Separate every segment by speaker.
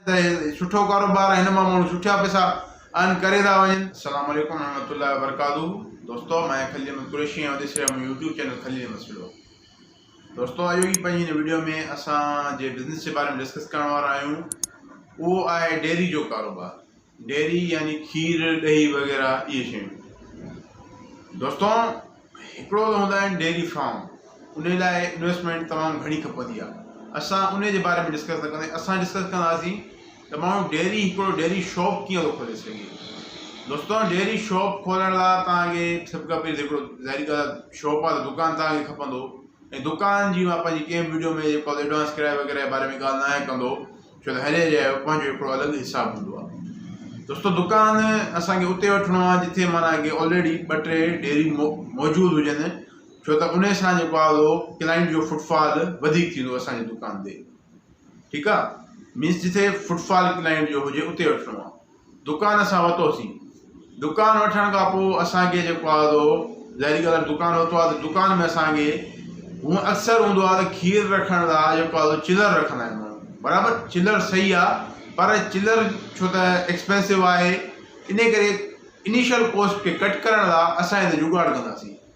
Speaker 1: ته سٺو ڪاروبار آهي هن مان ماڻهو سٺيا پئسا ارن ڪري ٿا وڃن. السلام عليڪم ورحمة الله وبرڪاته دوستو مان خليل احمد قريشي ۽ ڏسي رهيا مون يوٽيوب چينل خليل احمد سلو دوستو اڄ جي پنهنجي هن ويڊيو ۾ اسان جي بزنس جي باري ۾ ڊسڪس ڪرڻ وارا آهيون اهو آهي ڊيري جو ڪاروبار ڊيري يعني کير، ڏهي وغيره اهي شيون. دوستو هڪڙو ته هوندا آهن ڊيري فارم انهي لاء انويسٽمينٽ تمام گهڻي کپندي آهي اسان انهي جي باري ۾ ڊسڪس نه ڪنداسين اسان ڊسڪس ڪنداسين ته ماڻهو ڊيري هڪڙو ڊيري شاپ ڪيئن ٿو کولي سگهي دوستو ڊيري شاپ کولڻ لاء توهان کي سڀ کان پهرين هڪڙو ظاهري ڳالهه آهي شاپ آهي ته دڪان توهان کي کپندو ۽ دڪان جي مان پنهنجي ڪنهن به وڊيو ۾ جيڪو ايڊوانس ڪرايو وغيره جي باري ۾ ڳالهه نه آهي ڪندو ڇو ته هر ايريا جو پنهنجو هڪڙو الڳ حساب هوندو آهي. دوستو دڪان اسان کي اتي وٺڻو آهي جتي معنيٰ ڪي آلريڊي ٻه ٽي ڊيري موجود هجن ڇو ته انهي سان جيڪو آهي اهو ڪلائنٽ جو فوٽ فال وڌيڪ ٿيندو اسان جي دڪان تي ٺيڪ آهي مينس جتي فوٽ فال ڪلائنٽ جو هجي اتي وٺڻو آهي. دڪان اسان ورتوسين. دڪان وٺڻ کان پوء اسان کي جيڪو آهي سو ظاهري ڳالهه آهي ته دڪان ورتو آهي ته دڪان ۾ اسان کي هونء اڪثر هوندو آهي ته کير رکڻ لاء جيڪو آهي سو چلر رکندا آهن ماڻهو برابر چلر صحيح آهي پر چلر ڇو ته ايڪسپينسو آهي انهي ڪري انيشل ڪوسٽ کي ڪٽ ڪرڻ لاء اسان هتي جگاڙ ڪنداسين.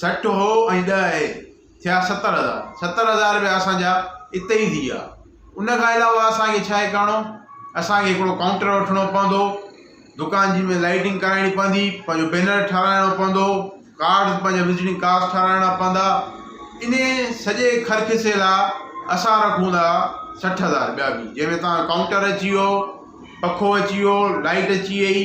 Speaker 1: سٺ هو ۽ ڏهه اهي، ٿيا ستر هزار. ستر هزار رپيا اسان جا اتي ئي ٿي ويا. ان کان علاوه اسان کي ڇا هي ڪرڻو؟ اسان کي هڪڙو ڪائونٽر وٺڻو پوندو، دڪان جي ۾ لائٽنگ ڪرائڻي پوندي، پنهنجو بينر ٺهرائڻو پوندو، ڪارڊز پنهنجا وزٽنگ ڪارڊز ٺهرائڻا پوندا. انهي سڄي خرچسي لا اسان رکون ٿا سٺ هزار رپيا ڀي. جنهن ۾ توهان جو ڪائونٽر اچي ويو، پکو اچي ويو، لائٽ اچي وئي.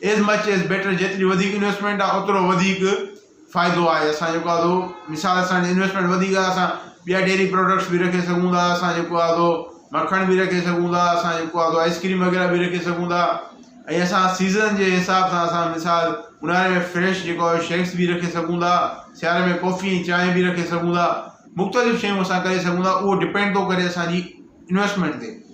Speaker 1: ايز مچ ايز بيٽر جيتري وڌيڪ انويسٽمينٽ آ اوترو وڌيڪ فائدو آهي اسان جيڪو آهي سو مثال اسان جي انويسٽمينٽ وڌيڪ آهي اسان ٻيا ڊيري پروڊڪٽس به رکي سگهون ٿا اسان جيڪو آهي سو مکڻ به رکي سگهون ٿا اسان جيڪو آهي سو آئسڪريم وغيره به رکي سگهون ٿا ۽ اسان سيزن جي حساب سان اسان مثال اونهاري ۾ فريش جيڪو آهي شيڪس به رکي سگهون ٿا سياري ۾ ڪوفي ۽ چانهه به رکي سگهون ٿا مختلف شيون اسان ڪري سگهون ٿا اهو ڊپينڊ ٿو ڪري اسان جي انويسٽمينٽ تي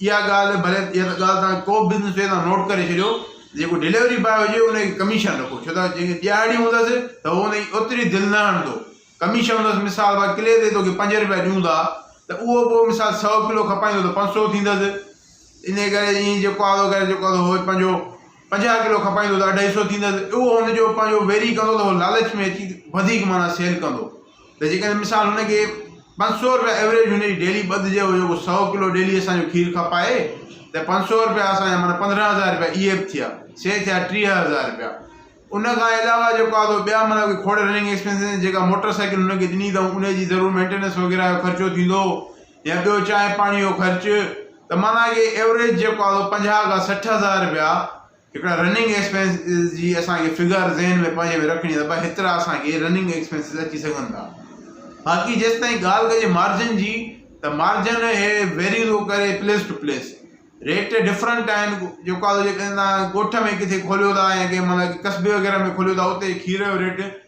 Speaker 1: اها ڳالهه ڀلي اها ته ڳالهه توهان ڪو به بزنس ڪيو توهان نوٽ ڪري ڇڏيو ته جيڪو ڊليوري باء هجي ان کي ڪميشن رکو ڇو ته جيڪي ڏيهاڙي هوندس ته هو ان جي اوتري دل نه هڻندو ڪميشن هوندس مثال بار ڪلي تي توکي پنج روپيا ڏيون ٿا ته اهو پوء مثال سؤ ڪلو کپائيندو ته پنج سؤ ٿيندس ان ڪري ائين جيڪو آڌو ڪري جيڪو آڌو هو پنهنجو پنجاهه ڪلو کپائيندو ته اڍائي سؤ ٿيندس اهو هن جو پنهنجو ويري ڪندو ته هو لالچ ۾ اچي وڌيڪ معنيٰ سيل ڪندو ته جيڪڏهن مثال هن کي پنج سؤ رپيا ايوريج هن جي ڊيلي ٻڌ جي هجي هو سؤ ڪلو ڊيلي اسان جو کير کپائي ته پنج سؤ رپيا اسان جا معنيٰ پندرهن هزار رپيا اهي به ٿيا سي ٿيا ٽيهه هزار رپيا ان کان علاوه جيڪو آ تو ٻيا معنيٰ ڪوئي کوڙ رننگ ايڪسپينسز جيڪا موٽر سائيڪل هن کي ڏني اٿئون ان جي ضرور مينٽيننس وغيره جو خرچو ٿيندو يا ٻيو چانهه پاڻي جو خرچ ته معنيٰ ڪي ايوريج جيڪو آ تو پنجاهه کان سٺ هزار رپيا هڪڙا رننگ ايڪسپينسز جي اسان کي فگر ذهن ۾ پنهنجي ۾ رکڻي آهي ته ڀاء هيترا اسان کي رننگ ايڪسپينسز اچي سگهن ٿا باقي جيستائين ڳالهه ڪجي مارجن جي ته مارجن هي ويري ٿو ڪري place to place rate different آهن جيڪا جيڪڏهن تان ڳوٺ ۾ ڪٿي کوليو ٿا يا ڪنهن مطلب قصبي وغيره ۾ کوليو ٿا اتي کير جو ريٽ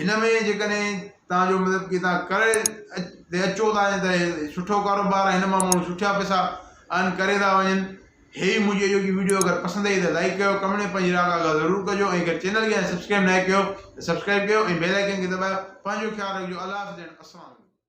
Speaker 1: هن ۾ جيڪڏهن توهان جو مطلب ڪي توهان ڪري تي اچو ٿا ته هي سٺو ڪاروبار هن مان ماڻهو سٺا پئسا ارن ڪري ٿا وڃن هي ائي مجهي جو ڪي وڊيو اگر پسند آئي ته لائڪ ڪيو ڪمينٽ ۾ پنهنجي راء ڪا ضرور ڪجو ۽ اگر چينل کي سبسڪرائب ناهي ڪيو ته سبسڪرائب ڪيو ۽ بيل آئڪن کي دٻايو پنهنجو خيال رکجو الله حافظ اينڊ السلام عليڪم